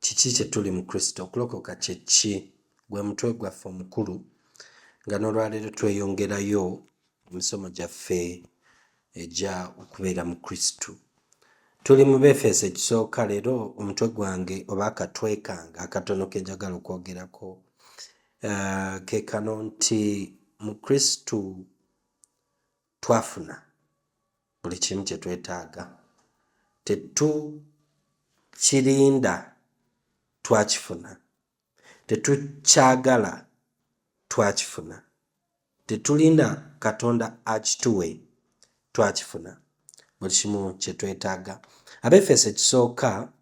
Kiki kye tuli mu Kristo? Okulokoka kye ki? Gwe mutwe gwaffe omukulu, nga n'olwaleero tweyongerayo mu misomo gyaffe egya okubeera mu Kristo. Tuli mu Befeso ekisooka, leero omutwe gwange oba akatwe kange akatono ke njagala okwogerako eh, ke kano nti mu Kristo twafuna buli kimu kye twetaaga, tetukirinda, twakifuna, tetukyagala, twakifuna, tetulinda Katonda akituwe, twakifuna buli kimu kye twetaaga. Abefeso ekisooka,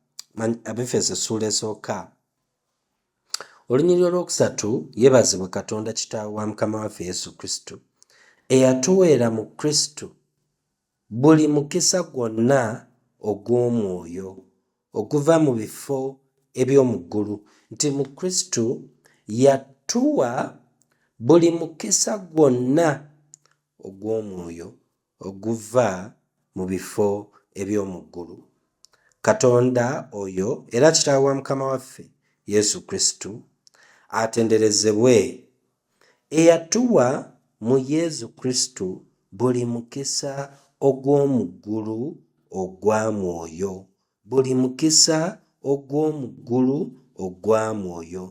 Abefeso essuula esooka Olunyiriri olwokusatu yebazibwe Katonda Kitaawe wa Mukama waffe Yesu Kristo, eyatuweera mu Kristo buli mukisa gwonna ogw'omwoyo oguva mu bifo eby'omu ggulu, nti mu Kristo yatuwa buli mukisa gwonna ogw'omwoyo oguva mu bifo eby'omu ggulu. Katonda oyo era Kitaawe wa Mukama waffe Yesu Kristo atenderezebwe, eyatuwa mu Yesu Kristo buli mukisa ogw'omu ggulu ogwa mwoyo buli mukisa ogw'omu ggulu ogwa mwoyo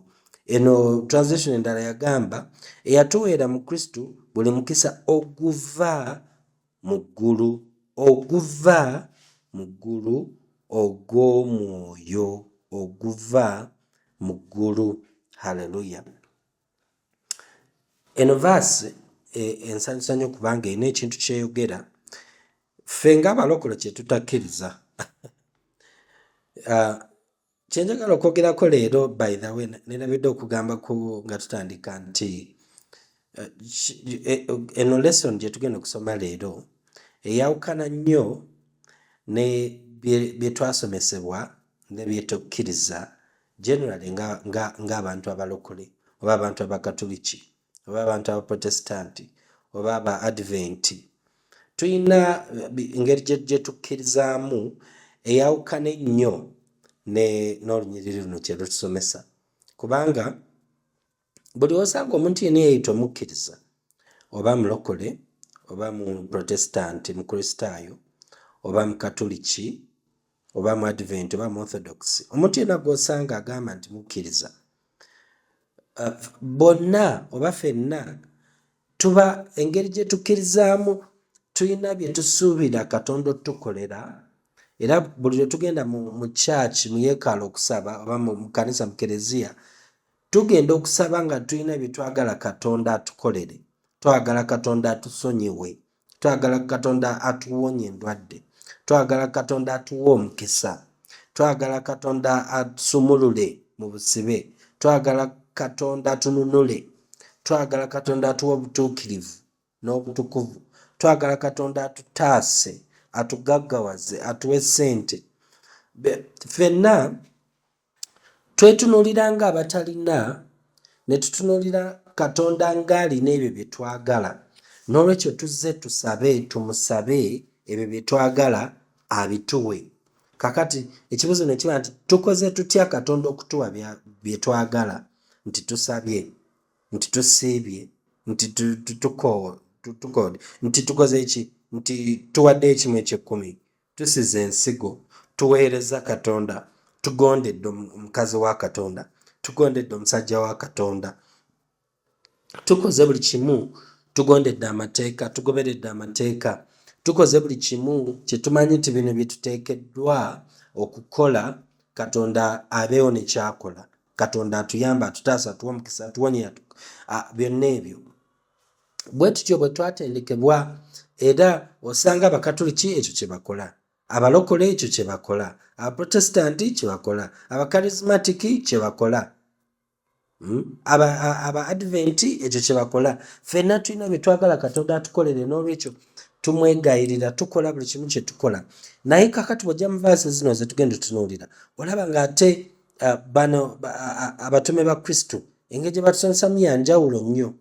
eno translation endala yagamba eyatuweera mu kristo buli mukisa oguva mu ggulu oguva mu ggulu ogw'omwoyo oguva mu ggulu halleluya eno vaasi e, ensanyusa nyo kubanga erina ekintu kyeyogera ffe nga abalokolo kyetutakkiriza ah, kyenjagala okwogerako leero by the way nerabidde okugamba ku nga tutandika nti eh, eh, eno lesson gyetugenda okusoma leero eyawukana nnyo ne byetwasomesebwa nebyetukkiriza generally nga nga nga abantu abalokole oba abantu abakatuliki oba abantu abaprotestanti oba aba adventi tulina engeri gyetukkirizaamu eyawukana ennyo n'olunyiriri luno kyerutusomesa kubanga buli osanga omuntu yena eyayita omukkiriza oba mulokole oba mu protestanti mukristaayo oba mukatuliki oba mu advent oba mu orthodox omuntu yena gwosanga agamba nti mukkiriza uh, bonna oba fenna tuba engeri gye tukkirizaamu tulina bye tusuubira katonda otutukolera era buli lwe tugenda mu kyaki mu yekaala okusaba oba mu kanisa mu kereziya Tugenda okusaba nga tulina bye twagala Katonda atukolere. Twagala Katonda atusonyiwe. Twagala Katonda atuwonye endwadde. Twagala Katonda atuwe omukisa. Twagala Katonda atusumulule mu busibe. Twagala Katonda atununule. Twagala Katonda atuwe obutuukirivu n'obutukuvu. Twagala Katonda atutaase, atugaggawaze, atuwe ssente. Be- Ffenna Twetunuulira ng'abatalina, ne tutunuulira Katonda ng'alina ebyo bye twagala. N'olwekyo tuzze tusabe, tumusabe ebyo bye twagala abituwe. Kaakati ekibuuzo ne kiba nti tukoze tutya Katonda okutuwa bye twagala? Nti tusabye? Nti tusiibye? Nti tukoode? Nti tukoze ki? Nti tuwaddeyo ekimu eky'ekkumi? Tusize ensigo, tuweereza Katonda, tugondedde omukazi wa Katonda, tugondedde omusajja wa Katonda, tukoze buli kimu, tugondedde amateeka, tugoberedde amateeka, tukoze buli kimu kye tumanyi nti bino bye tuteekeddwa okukola, Katonda abeewo ne kyakola. Katonda atuyamba, atutaasa, atuwa omukisa, atuwonya, byonna ebyo. bwe tutyo bwe twatendekebwa era osanga abakatuliki ekyo kye bakola abalokole ekyo kye bakola abaprotestanti kye bakola abakarismatiki kye bakola hmm? aba adventi ekyo kye bakola fenna tulina bye twagala katonda atukolere n'olwekyo tumwegayirira tukola buli kimu kye tukola naye kakati bwojja mu vaasi zino ze tugenda tunuulira olaba ng'ate uh, bano uh, uh, abatume ba kristo engeri gye batusansamu ya njawulo nnyo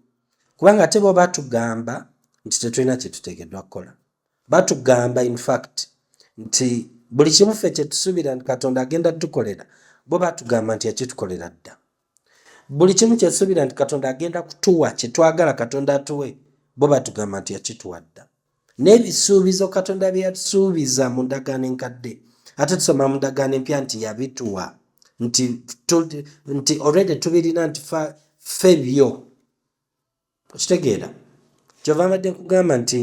kubanga ate bo batugamba nti tetulina kye tuteekeddwa kukola batugamba infact nti buli kimu ffe kye tusuubira nti katonda agenda tukolera bo batugamba nti yakitukolera dda buli kimu kye tusuubira nti katonda agenda kutuwa kye twagala katonda atuwe bo batugamba nti yakituwa dda n'ebisuubizo katonda bye yatusuubiza mu ndagaano enkadde ate tusoma mu ndagaano empya nti yabituwa nti nti olwede tubirina nti ffe byo okitegeera kyova mbadde nkugamba nti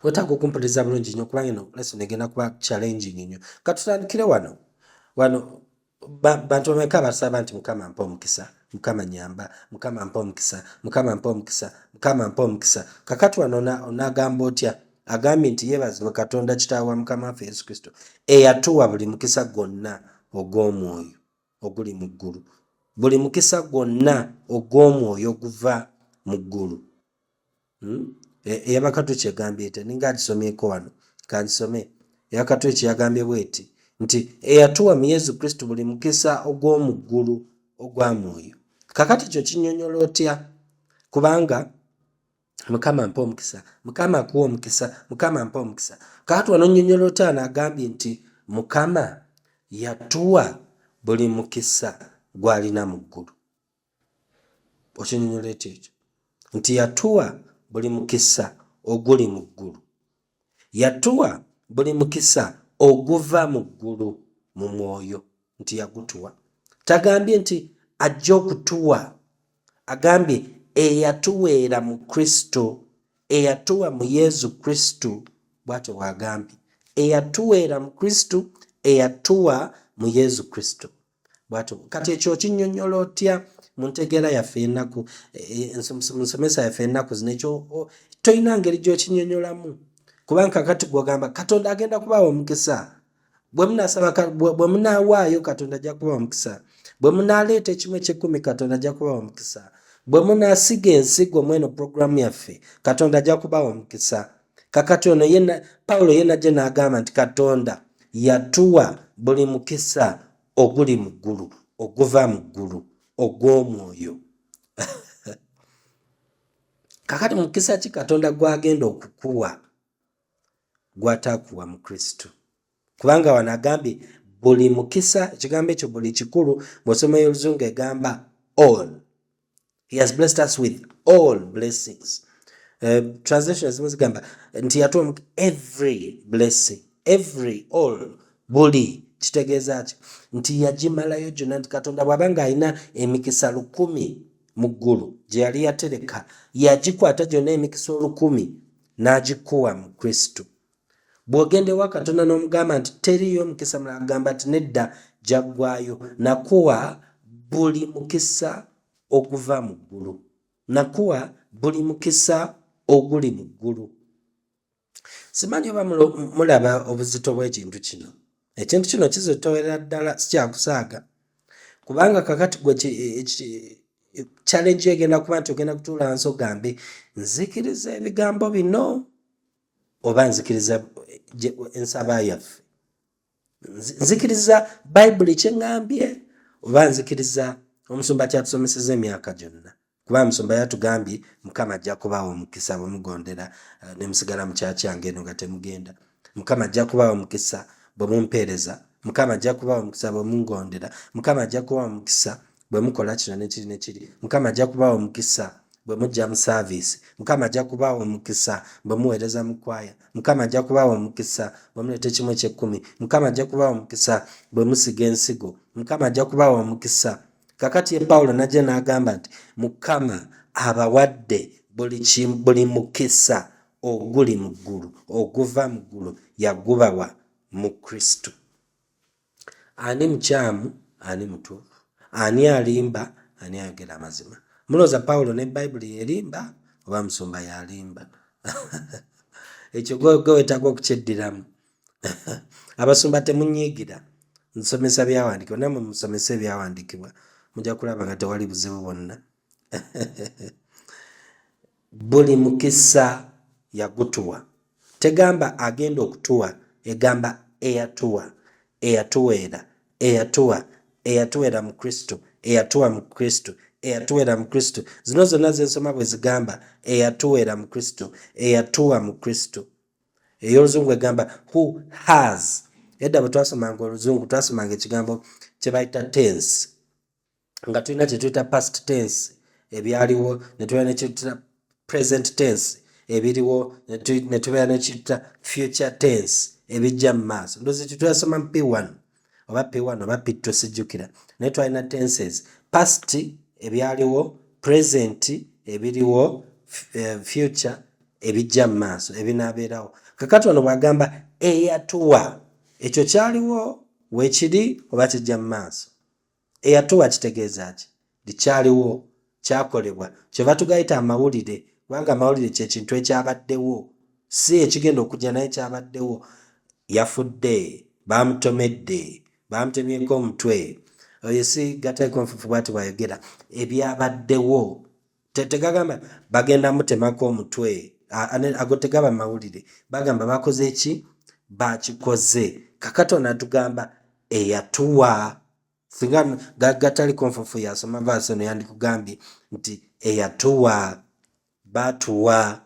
wetaaga okumpuliriza bulungi nyo kubanga eno lesson egenda kuba challenging nyo katutandikire wano wano bantu bameka basaba nti mukama mpa omukisa mukama nyamba mukama mpa omukisa mukama mpa omukisa mukama mpa omukisa kakati wano onagamba otya agambye nti yebazibwe katonda kitaawe wa mukama waffe yesu kristo eyatuwa buli mukisa gwonna ogw'omwoyo oguli mu ggulu buli mukisa gwonna ogw'omwoyo oguva mu ggulu hmm? e, eyabakatu kyegambye ete ninga agisomyeko wano kansome eyakatu ekyeyagambye bweti nti eyatuwa mu yesu kristo buli mukisa ogw'omu ggulu ogwa mwoyo kakati ekyo kinyonyola otya kubanga mukama mpa omukisa mukama akuwa omukisa mukama mpa omukisa kakati wano nyonyola otya naagambye nti mukama yatuwa buli mukisa gwalina mu ggulu okinyonyola ekyo ekyo nti yatuwa buli mukisa oguli mu ggulu yatuwa buli mukisa oguva mu ggulu mu mwoyo nti yagutuwa tagambye nti ajja okutuwa agambye eyatuweera mu kristo eyatuwa mu yesu kristo bwatyo bwagambye eyatuweera mu kristo eyatuwa mu yesu kristo bwatu kati ekyo okinyonyola otya mu ntegeera yaffe enaku e, e, nsomesa yaffe enaku zino ekyo tolina ngeri gyokinyonyolamu kubanga kakati gwogamba katonda agenda kubaawo omukisa bwemunawaayo katonda ajja kubawa omukisa bwe munaleeta ekimu ekyekumi katonda ajja kubawa omukisa bwe munasiga ensigo mweno puroguramu yaffe katonda ajja kubawa omukisa kakati ono ye pawulo ye najja n'agamba nti katonda yatuwa buli mukisa oguli mu ggulu oguva mu ggulu ogw'omwoyo kakati mukisa ki katonda gwagenda okukuwa gwatakuwa mu kristo kubanga wano agambye buli mukisa ekigambo ekyo buli kikulu ng'osoma y'oluzungu egamba all he has blessed us with all blessings uh, translation zimu zigamba nti yatuwa every blessing every all buli kitegeeza ki nti yagimalayo gyonna nti katonda bw'aba ng'alina emikisa lukumi mu ggulu gye yali yatereka yagikwata gyonna emikisa olukumi n'agikuwa mu kristo bw'ogenda ewa katonda n'omugamba nti teriiyo mukisa mulala agamba nti nedda gyaggwayo nakuwa buli mukisa oguva mu ggulu nakuwa buli mukisa oguli mu ggulu simanyi oba mulaba obuzito bw'ekintu kino ekintu kino kizitowerera ddala sikyakusaaga kubanga kakati gwe challenge egenda kuba nti ogenda kutuula nsi ogambe nzikiriza ebigambo bino oba nzikiriza ensaba yaffe nzikiriza bayibuli kyeŋambye oba nzikiriza omusumba kyatusomeseza emyaka gyonna kuba omusumba yatugambye mukama ajja kubaawo omukisa bwemugondera eh, nemusigala mukyakyange eno nga temugenda mukama ajja kubaawo omukisa bwemumpeereza mukama ajja kubaawo omukisa bwemungondera mukama ajja kubaawo omukisa bwe mukola kino ne kiri ne kiri mukama ajja kubaawa omukisa bwe mujja mu saaviisi mukama ajja kubaawa omukisa bwe muweereza mu kwaya mukama ajja kubaawa omukisa bwe muleeta ekimu ekyekkumi mukama ajja kubaawa omukisa bwe musiga ensigo mukama ajja kubaawa omukisa kakati ye pawulo najja n'agamba nti mukama abawadde buli mukisa oguli mu ggulu oguva mu ggulu yagubawa mu kristo Ani mukyamu ani mutuufu? Ani alimba ani ayogera amazima? Mulooza Pawulo ne Bayibuli yerimba oba musumba yalimba? Ekyo gwe wetaaga okukyeddiramu. Abasumba temunyiigira nsomesa byawandiikibwa namwe musomesa ebyawandiikibwa mujja kulaba nga tewali buzibu bwonna. Buli mukisa yagutuwa. Tegamba agenda okutuwa, egamba eyatuwa, eyatuweera, eyatuwa, eyatuweera mu Kristo, eyatuwa mu Kristo, eyatuweera mu Kristo. Zino zonna ze nsoma bwe zigamba eyatuweera mu Kristo, eyatuwa mu Kristo. Ey'oluzungu egamba who has. Edda bwe twasomanga oluzungu twasomanga ekigambo kye bayita tense. nga tulina kyetuyita past tense ebyaliwo netubeera nekyetuyita present tense ebiriwo netubeera nekyetuyita future tense ebijja mu maaso ndozi kyetuyasoma mu p1 oba p1 oba p2 sijjukira naye twalina tenses past ebyaliwo present ebiriwo eh, future ebijja mu maaso ebinaabeerawo kakati ono bwagamba eyatuwa ekyo kyaliwo wekiri oba kijja mu maaso eyatuwa kitegeeza ki nti kyaliwo kyakolebwa kyeva tugayita amawulire kubanga amawulire kyekintu ekyabaddewo si ekigenda okujja naye kyabaddewo yafudde bamutomedde bamutemyeko omutwe oyo si gataiko nfufu bwati bwayogera ebyabaddewo tegagamba bagenda mutemako omutwe ago tegaba mawulire bagamba bakoze ki bakikoze kakato natugamba eyatuwa singa gatali konfufu yasoma vaasi eno yandikugambye nti eyatuwa batuwa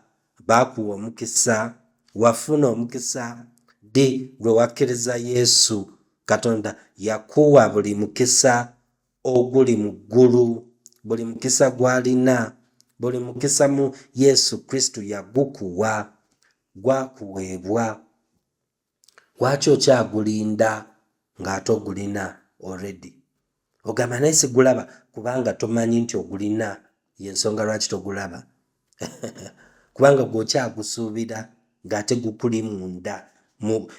bakuwa omukisa wafuna omukisa di lwe wakkiriza yesu katonda yakuwa buli mukisa oguli mu ggulu buli mukisa gw'alina buli mukisa mu yesu kristo yagukuwa gwakuweebwa lwaki okyagulinda ng'ate ogulina already ogamba naye sigulaba kubanga tomanyi nti ogulina yensonga lwaki togulaba kubanga gwokyagusuubira ng'ate gukuli munda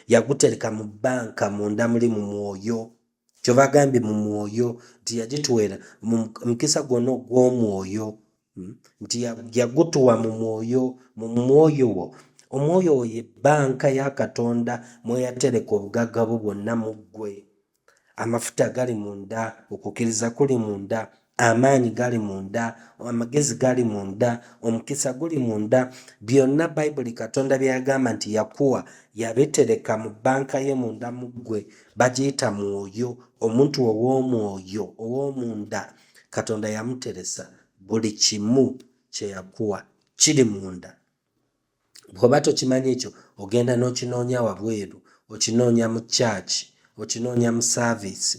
yagutereka mu bbanka munda muli mu mwoyo kyova agambye mu mwoyo nti yagituwera mu mukisa gwonna ogw'omwoyo hmm? nti yagutuwa mu mwoyo mu mwoyo wo omwoyo wo ye bbanka ya katonda mweyatereka obugagga bwo bwonna mu ggwe amafuta gali munda okukkiriza kuli munda amaanyi gali munda amagezi gali munda omukisa guli munda byonna bayibuli katonda byeyagamba nti yakuwa yabitereka mu banka ye munda mu ggwe bagiyita mwoyo omuntu ow'omwoyo ow'omunda katonda yamuteresa buli kimu kyeyakuwa kiri munda bw'oba tokimanyi ekyo ogenda n'okinoonya wabweru okinoonya mu church okinoonya mu service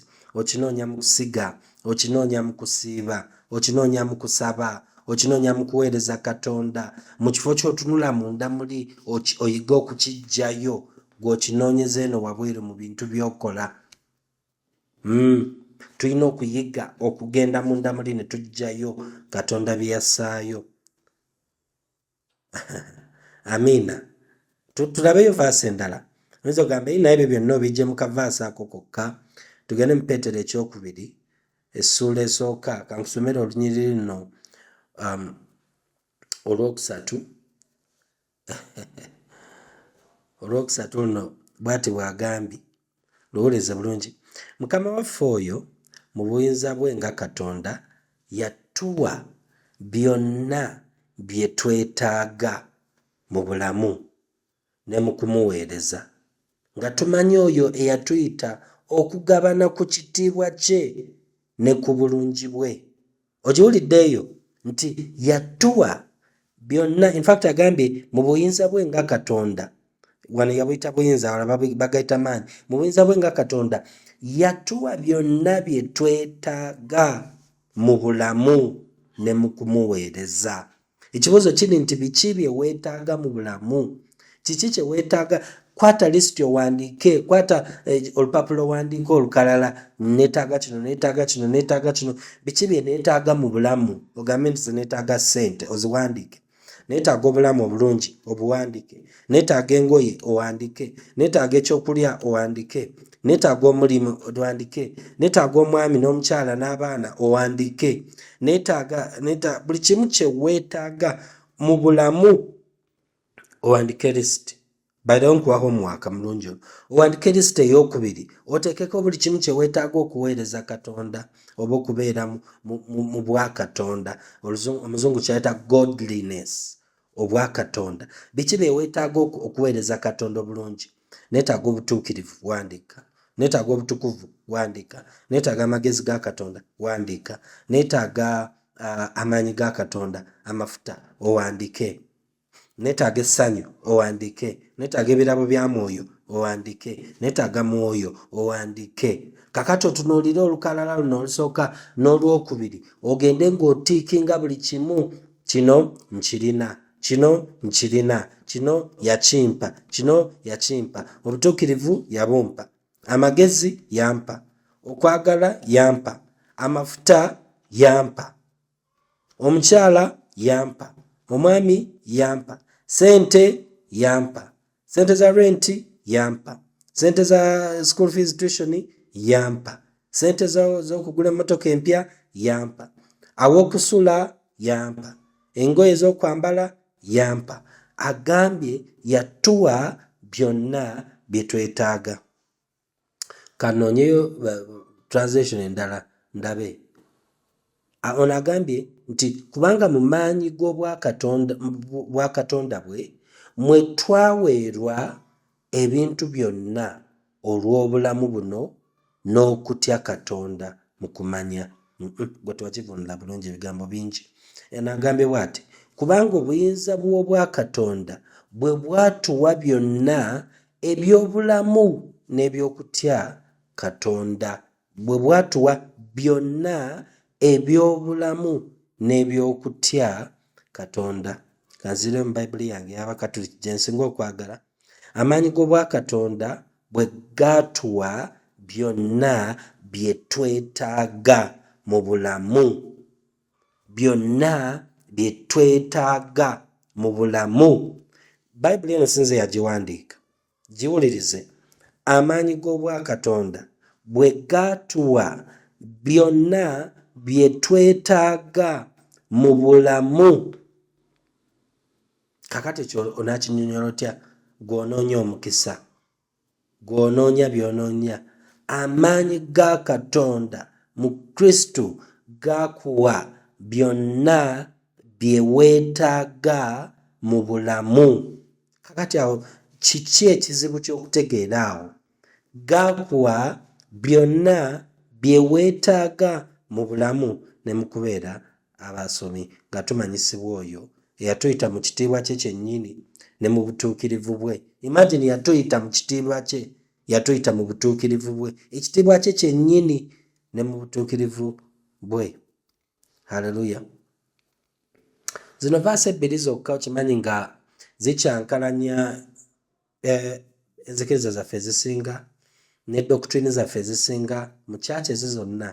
okinoonya mu kusiga okinoonya mu kusiiba okinoonya mu kusaba okinoonya mu kuweereza katonda mu kifo ky'otunula munda muli oyige okukijjayo gw'okinoonyeza eno wabweru mu bintu by'okola hmm. tulina okuyiga okugenda munda muli ne tujjayo katonda bye yasaayo amiina tulabeyo vaasi endala oyinza ogamba eyi naye ebyo byonna obijje mu kavaasi ako kokka tugende mu peetero ekyokubiri essuula esooka kankusomere olunyiriri luno um, olwokusatu olwokusatu luno bwati bwagambye Lowooleza bulungi. Mukama waffe oyo mu buyinza bwe nga Katonda yatuwa byonna bye twetaaga mu bulamu ne mu kumuweereza. Nga tumanyi oyo eyatuyita okugabana ku kitiibwa kye ne ku bulungi bwe. ogiwulidde eyo nti yatuwa byonna infact agambye mu buyinza bwe nga katonda wano yabuyita buyinza wala bagaita maanyi mu buyinza bwe nga katonda yatuwa byonna bye twetaaga mu bulamu ne mu kumuweereza ekibuuzo kiri nti biki bye weetaaga mu bulamu kiki kye weetaaga kwata lisiti owandiike kwata eh, olupapula owandiika olukalala neetaaga kino neetaaga kino neetaaga kino biki bye neetaaga mu bulamu ogambe nti zineetaaga ssente oziwandiike neetaaga obulamu obulungi obuwandiike netaaga engoye owandike netaaga ekyokulya owandike netaaga omulimu owandike netaaga omwami n'omukyala n'abaana owandike netaaga buli kimu kyeweetaaga mu bulamu owandike lisiti bairawo nkuwa homuwaka mulungi ono owandike lisiti eyokubiri oteekeko buli kimu kyeweetaaga okuweereza katonda oba okubeera mu bwakatonda omuzungu kyayita godliness obwa katonda biki byewetaaga okuweereza katonda obulungi neetaaga obutuukirivu wandiika neetaaga obutukuvu wandiika neetaaga amagezi ga katonda wandiika neetaaga uh, amaanyi ga katonda amafuta owandiike neetaaga essanyu owandiike neetaaga ebirabo bya mwoyo owandiike neetaaga mwoyo owandiike kakati otunuulire olukalala luno olusooka n'olwokubiri ogende ng'otiikinga buli kimu kino nkirina kino nkirina kino yakimpa kino yakimpa obutuukirivu yabumpa amagezi yampa okwagala yampa amafuta yampa omukyala yampa omwami yampa sente yampa sente za rent yampa sente za school fees tuition yampa sente zokugula emotoka empya yampa awokusula yampa engoye zokwambala yampa agambye yatuwa byonna byetwetaaga kanoonyeyo translation endala ndabe ono agambye nti kubanga mu maanyi g'obwakatonda bwe mwe twaweerwa ebintu byonna olw'obulamu buno n'okutya katonda mu kumanya gwe twakivunula bulungi ebigambo bingi eno agambye bwati kubanga obuyinza bw'obwakatonda bwe bwatuwa byonna Eby'obulamu n'eby'okutya Katonda. Bwe bwatuwa byonna eby'obulamu n'eby'okutya Katonda. Kanzire mu Bayibuli yange y'Abakatuliki gye nsinga okwagala. Amaanyi g'Obwakatonda bwe gaatuwa byonna bye twetaaga mu bulamu. byonna bye twetaaga mu bulamu bayibuli eno sinze yagiwandiika giwulirize amaanyi g'obwakatonda bwe gaatuwa byonna bye twetaaga mu bulamu kakati ekyo onakinyonyola otya gw'onoonya omukisa Gw'onoonya by'onoonya, amaanyi ga Katonda mu Kristo gakuwa byonna bye weetaaga mu bulamu. Kakati awo kiki ekizibu ky'okutegeera awo? Gakuwa byonna bye weetaaga mu bulamu ne mu kubeera abasomi, nga tumanyisibwa oyo eyatuyita mu kitiibwa kye kyennyini ne mu butuukirivu bwe. Imagine yatuyita mu kitiibwa kye, yatuyita mu butuukirivu bwe, ekitiibwa kye kyennyini ne mu butuukirivu bwe. Haleluya! Zino vaasi ebbiri zokka okimanyi nga zikyankalanya eh, enzikiriza zaffe ezisinga ne doktrini zaffe ezisinga mu kyaki ezi zonna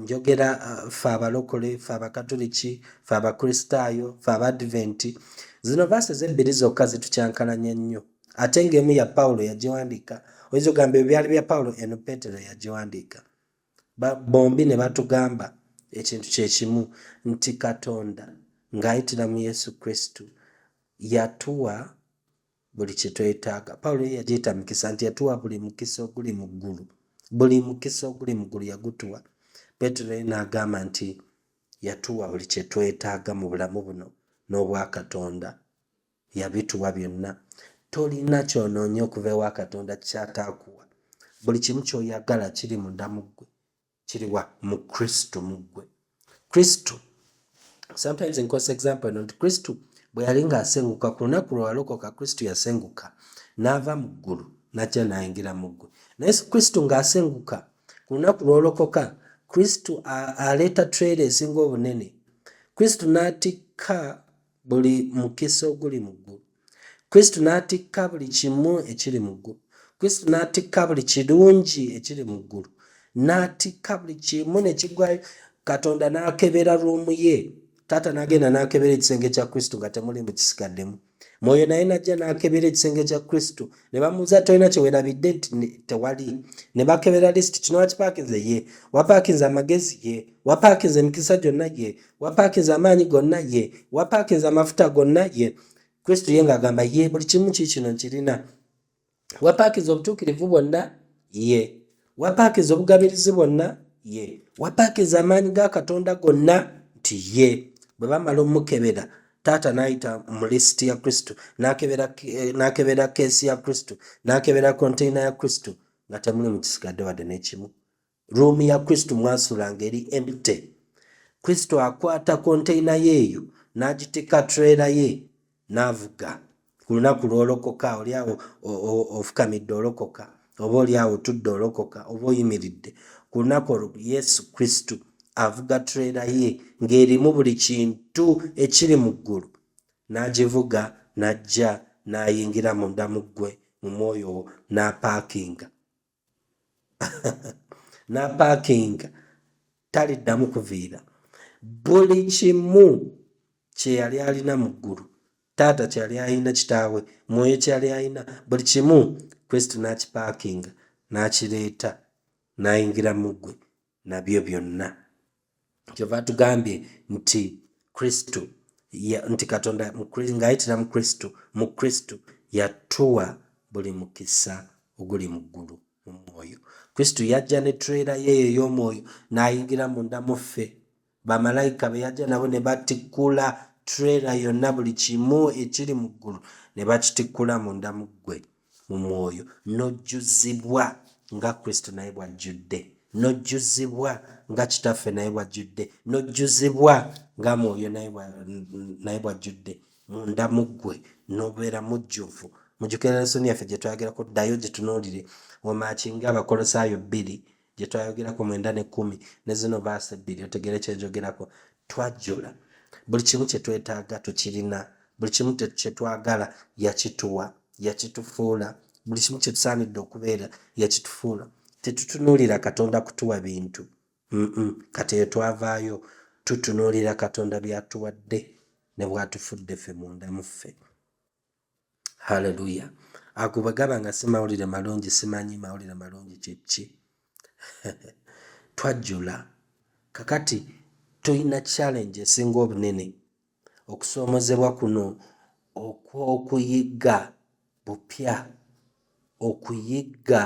njogera uh, fe abalokole fe abakatuliki fe abakristaayo fe abadventi zino vaasi ezebbiri zokka zitukyankalanya nnyo ate ng'emu ya pawulo yagiwandiika oyinza ogamba ebyo byali bya pawulo eno peetero yagiwandiika bombi ne batugamba ekintu kye kimu nti katonda ng'ayitira mu yesu kristo yatuwa buli kye twetaaga pawulo ye yagiyita mukisa nti yatuwa buli mukisa oguli mu ggulu buli mukisa oguli mu ggulu yagutuwa petero ye n'agamba nti yatuwa buli kye twetaaga mu bulamu buno n'obwa katonda yabituwa byonna tolina kyonoonye okuva ewa katonda kyataakuwa buli kimu kyoyagala kiri munda mu ggwe kiriwa mu kristo mu ggwe kristo sometimes nkosa example nti kristo bwe yali ng'asenguka ku lunaku lwe walokoka kristo yasenguka n'ava mu ggulu najja nayingira mu ggwe naye kristo ng'asenguka ku lunaku lw'olokoka kristo aleeta trera esinga obunene kristo n'atikka buli mukisa oguli mu ggulu kristo n'atikka buli kimu ekiri mu ggulu kristo n'atikka buli kirungi ekiri mu ggulu n'atikka buli kimu ne kigwayo katonda n'akebera ruumu ye taata n'agenda n'akebera ekisenge kya kristo nga temuli mu kisigaddemu mwoyo naye najja n'akebera ekisenge kya kristo ne bamuuza tolina kyewerabidde nti tewali ne bakebera lisiti kino wakipaakinze ye wapaakinze amagezi ye wapaakinze emikisa gyonna ye wapakinze amaanyi gonna ye wapakinze amafuta gonna ye kristo ye ng'agamba ye buli kimu ki kino nkirina wapakinze obutuukirivu bwonna ye wapakinze obugabirizi bwonna ye wapakinze amaanyi ga katonda gonna nti ye bwe bamala omukebera taata n'ayita mu lisiti ya kristo n'akebera eh, keesi ya kristo n'akebera konteyina ya kristo nga temuli mu kisigadde wadde n'ekimu Ruumi ya Kristo mwasula ngeri empty. Kristo akwata konteyina ye eyo n'agiteka trailer ye n'avuga. Ku lunaku lw'olokoka oli awo ofukamidde olokoka oba oli awo otudde olokoka oba oyimiridde ku lunaku olwo Yesu Kristo avuga trailer ye ng'erimu buli kintu ekiri mu ggulu n'agivuga n'ajja n'ayingira munda mu ggwe mu mwoyo wo n'apaakinga. n'apaakinga taliddamu kuviira buli kimu kye yali alina mu ggulu taata kye yali alina kitaawe mwoyo kye yali alina buli kimu kristo n'akipaakinga n'akireeta n'ayingira mu ggwe nabyo byonna kyova tugambye nti kristo nti katonda ngaayitira mu kristo mu kristo yatuwa buli mukisa oguli mu ggulu mu mwoyo kristo yajja ne tureera yeeyo ey'omwoyo n'ayingira munda muffe bamalayika be yajja nabo ne batikkula trailer yonna buli kimu ekiri mu ggulu ne bakitikkula munda mu ggwe mu mwoyo n'ojjuzibwa nga kristo naye bw'ajjudde n'ojjuzibwa nga kitaffe naye bw'ajjudde n'ojjuzibwa nga mwoyo naye bw'ajjudde munda mu ggwe n'obeera mujjuvu mujukira lesoni yaffe gye twagerako ddayo gye tunuulire wamaakinga abakolosaayo bbiri gyetwayogerako mwenda ne kumi ne zino baasa ebbiri otegere kyenjogerako twajjula buli kimu kyetwetaaga tukirina buli kimu kyetwagala yakituwa yakitufuula buli kimu kyetusaanidde okubeera yakitufuula tetutunuulira katonda kutuwa bintu kati eyo twavaayo tutunuulira katonda byatuwadde ne bwatufudde ffe munda muffe haleluya agubagaba nga si mawulire malungi simanyi mawulire malungi kyekki twajjula kakati tulina challenge esinga obunene okusoomozebwa kuno okw'okuyigga bupya okuyigga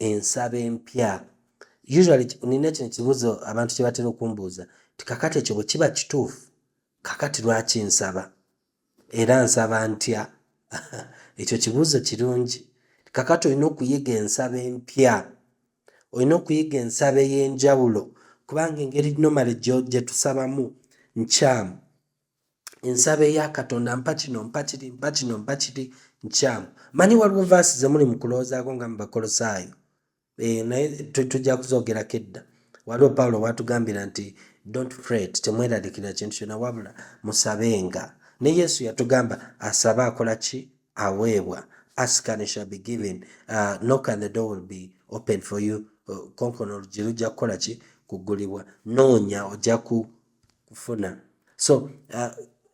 ensaba empya usually nina kino kibuuzo abantu kye batera okumbuuza ti kakati ekyo bwe kiba kituufu kakati lwaki nsaba Era nsaba ntya? Ekyo kibuuzo kirungi. Kakati olina okuyiga ensaba empya, olina okuyiga ensaba ey'enjawulo kubanga engeri nomale gye tusabamu nkyamu. Ensaba eya Katonda mpa kino mpa kiri mpa kino mpa kiri nkyamu. Manyi waliwo vaasi ze muli mu kulowoozaako nga mu Bakolosaayo. Eh, naye tujja kuzogerako edda waliwo pawulo watugambira nti dont fret temweralikira kintu kyona wabula musabenga ne yesu yatugamba asaba akola ki aweebwa askan shall be given uh, knock and the door will be open for you uh, konkono olugi lujja kukola ki kugulibwa noonya ojja ku kufuna so uh,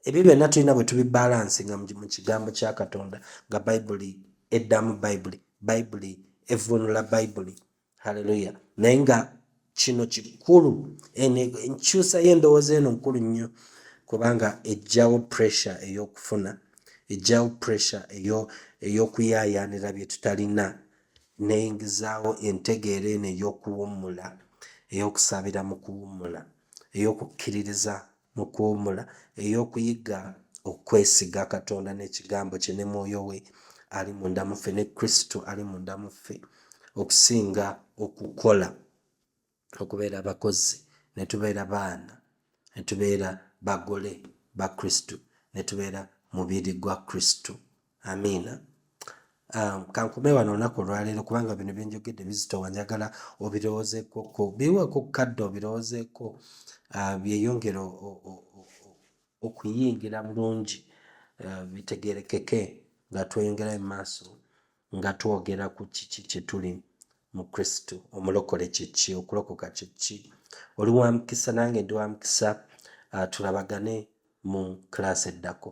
ebyo byonna tulina bwe tubibalansi nga mu kigambo kya katonda nga bayibuli eddamu bayibuli bayibuli evunula bayibuli haleluya naye nga kino kikulu enkyusa y'endowooza eno nkulu nnyo kubanga ejjawo pressure ey'okufuna ejjawo pressure ey'okuyaayaanira bye tutalina neyingizaawo entegeera eno ey'okuwummula ey'okusabira mu kuwummula ey'okukkiririza mu kuwummula, ey'okuyiga okwesiga Katonda n'Ekigambo kye ne Mwoyo we ali munda mu ffe, ne Kristo ali munda mu ffe, okusinga okukola, okubeera abakozi, ne tubeera baana, ne tubeera bagole ba Kristo, ne tubeera mubiri gwa Kristo. amiina um, kankume wano olunaku olwaleero kubanga bino byenjogedde bizitowa njagala obirowoozekoko biweko kadde obirowoozeko uh, byeyongere okuyingira bulungi uh, bitegerekeke nga tweyongerayo mu maaso nga twogera ku kiki kyetuli mu kristo omulokole kyeki okulokoka kyeki oli wa mukisa nange ndi wa mukisa uh, tulabagane mu kulaasi eddako